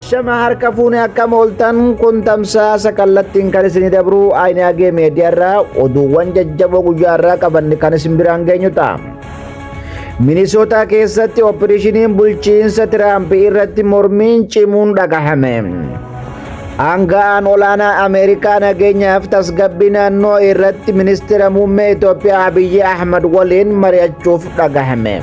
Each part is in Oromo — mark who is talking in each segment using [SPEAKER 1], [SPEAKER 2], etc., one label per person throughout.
[SPEAKER 1] Shama harka fuune akkam ooltan kun tamsaasa kallattiin kan isinii dabru Ayinaagee Meediyaarraa oduuwwan jajjaboo guyyaarraa qabanne kan isin biraan geenyu ta'a. Minisootaa keessatti ooppereeshiniin bulchiinsa Tiraamp irratti mormiin cimuun dhagahame. Aanga'aan olaanaa Ameerikaa nageenyaaf tasgabbii naannoo irratti ministeera muummee Itoophiyaa Abiyyi Ahmad waliin mari'achuuf dhagahame.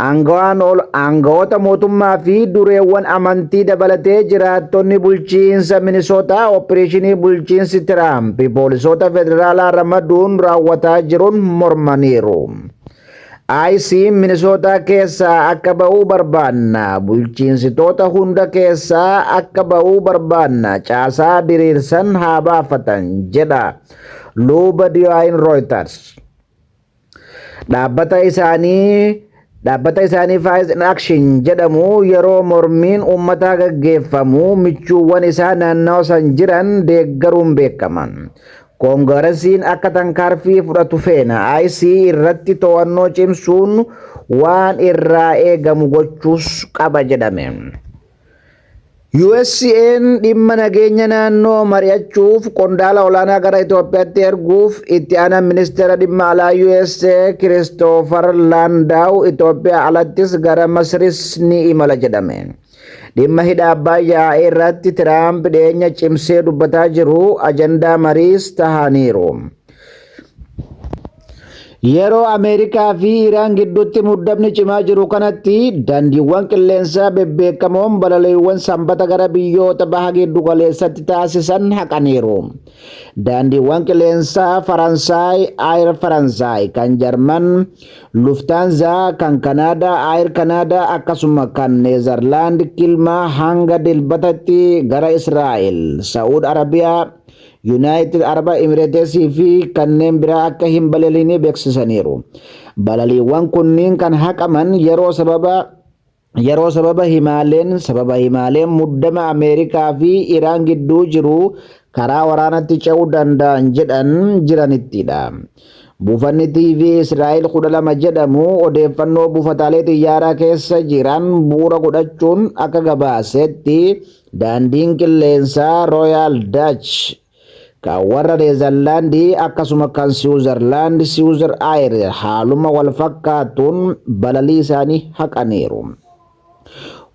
[SPEAKER 1] Aangawaan ol aangawoota mootummaa fi dureewwan amantii dabalatee jiraattonni bulchiinsa Minisootaa oppireeshinii bulchiinsi Tiraamp poolisoota federaalaa ramaduun raawwataa jiruun mormaniiru. ICE Minisootaa keessaa akka ba'uu barbaanna, bulchiinsitoota hunda keessaa akka ba'uu barbaanna, caasaa diriirsan haa baafatan, jedha Luba Diyaayin Rooyitars. Dhaabbata isaanii Dhaabbata isaanii Faiz in Action jedhamu yeroo mormiin uummataa gaggeeffamu michuuwwan isaa naannawa san jiran deeggaruun beekama. Koongarasiin akka tankaarfii fudhatu feena IC irratti to'annoo cimsuun waan irraa eegamu gochuus qaba jedhame. USA'n dhimma nageenya naannoo mari'achuuf qondaala olaanaa gara Itoophiyaatti erguuf itti aanaan ministeera dhimma alaa USA Kiristoofar Laandaaw Itoophiyaa alattis gara Masris ni imala jedhame. Dhimma hidha Abbaayyaa irratti Tiraamp dhiyeenya cimsee dubbataa jiru ajandaa mariis tahaniiru. Yeroo Ameerikaa fi Iraan gidduutti muddamni cimaa jiru kanatti daandiiwwan qilleensaa bebbeekamoon balaliiwwan sanbata gara biyyoota baha giddu galeessatti taasisan haqaniiru. Daandiiwwan qilleensaa Faransaay Aayir Faransaay, kan Jarman Luftaanzaa, kan Kanaadaa Aayir Kanaadaa akkasuma kan Neezarlaand Kilmaa hanga Dilbatatti gara Israa'el, Sa'uud Arabiyaa, Yunaayitid Araba Imireetesii fi kanneen biraa akka hin balaliine beeksisaniiru. Balaliiwwan kunniin kan haqaman yeroo sababa yeroo sababa himaaleen sababa himaaleen muddama Ameerikaa fi Iraan gidduu jiru karaa waraanatti ce'uu danda'an jedhan jiranittidha. Buufanni TV Israa'el 12 jedhamu odeeffannoo buufataalee xiyyaaraa keessa jiran bu'uura godhachuun akka gabaasetti Daandiin qilleensaa Royaal Dach kan warra Neezarlaandii akkasuma kan Siwuzarlaand Siwuzar Aayir haaluma wal fakkaatuun balalii isaanii haqaniiru.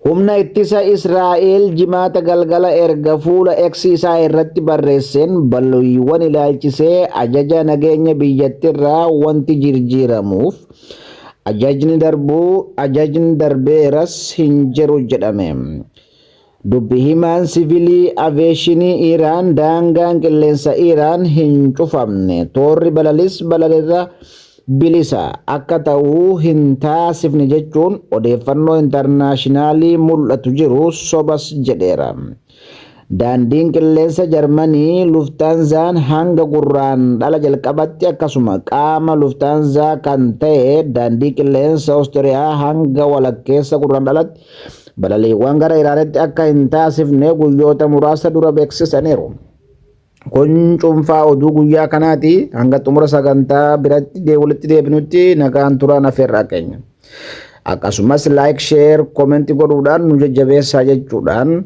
[SPEAKER 1] Humna ittisa Israa'el jimaata galgala erga fuula X isaa irratti barreesseen balaliiwwan ilaalchisee ajaja nageenya biyyattirraa wanti jirjiiramuuf ajajni darbuu ajajni darbeeras hin jiru jedhame. Dubbi himaan sivilii aveeshinii Iraan daangaan qilleensa Iraan hin cufamne, toorri balalis balalirra bilisa akka ta'u hin taasifne jechuun odeeffannoo intarnaashinaalii mul'atu jiru sobas jedheera. Daandiin qilleensa Jarmanii Luftaanzaan hanga Gurraandhala jalqabatti akkasuma qaama Luftaanzaa kan ta'e daandii qilleensa Ostiriyaa hanga walakkeessa Gurraandhalatti balaliiwwan gara Iraanitti akka hin taasifne guyyoota muraasa dura beeksisaniiru. Kun cuunfaa oduu guyyaa kanaati. Hanga xumura sagantaa biratti walitti deebinutti nagaan turaan afeerraa keenya. Akkasumas laayik, sheer, koomenti godhuudhaan nu jajjabeessaa jechuudhaan